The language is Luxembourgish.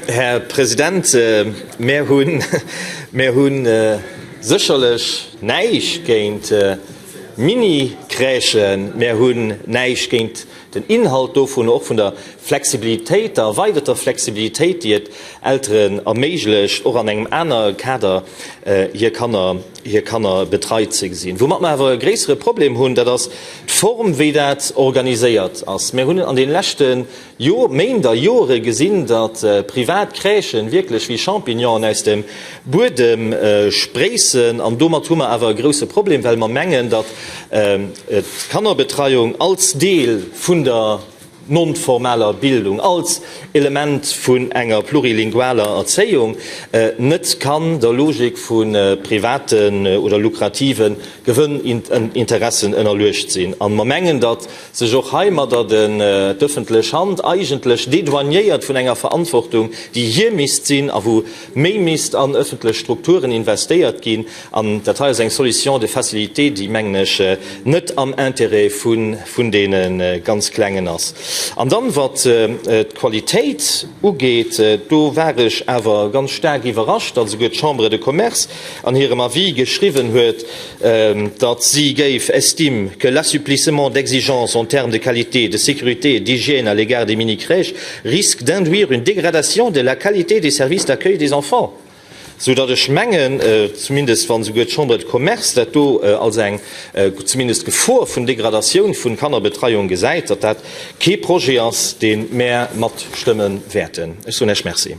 Här President, mär hunn, mär hu sécherlech näischt géint Mini-Crèchen, mär hunn näischt géint den Inhalt dovun, och vun der Flexibilitéit, der erweiderter Flexibilitéit, déi et Elteren erméiglecht, och an engem anere Kader hir Kanner, hir Kanner betreit ze gesinn. Woumat mer awer e gréissere Problem hunn, dat ass d'Form, wéi dat organiséiert ass. Mär hunn an deene leschte Jo, Méint a Jore gesinn, datt privat Crèchen wierklech wéi Champignonen aus dem Buedem spréissen. An domat hu mer awer e grousse Problem, well mer mengen, datt d'Kannerbetreiung als Deel vun der non-formaler Bildung, als Element vun enger plurilingualer Erzéiung net kann der Logik vu privaten oder lukrative Gewënninteressen ënnerluecht sinn. A mer mengen, datt sech och heimadder d'ëffentlech Hand eigentlech dédouaniéiert vun enger Verantwortung, déi hir misst sinn a wou méi misst an ëffentlech Strukturen investéiert ginn. An dat hei ass eng Solution de facilité, déi, mengen ech, net am Intérêt vun deene ganz Klengen ass. An dann, wat d'Qualitéit ugeet, do war ech awer ganz staark iwwerrascht, also souguer d'Chambre de Commerce, an hirem Avis geschriwwen huet, datt si géif estime que l'assouplissement d'exigences en termes de qualité, de sécurité et d'hygiène à l'égard des mini-crèches risque d'induire une dégradation de la qualité des services d'accueil des enfants. Soudatt ech mengen, zumindest wa souguer d'Chambre de Commerce dat do als eng zumindest Gefor vun Degradatioun vun Kannerbetreiung gesäit, datt dat kee Projet ass, dee mär matstëmme wäerten. Ech soen Iech Merci.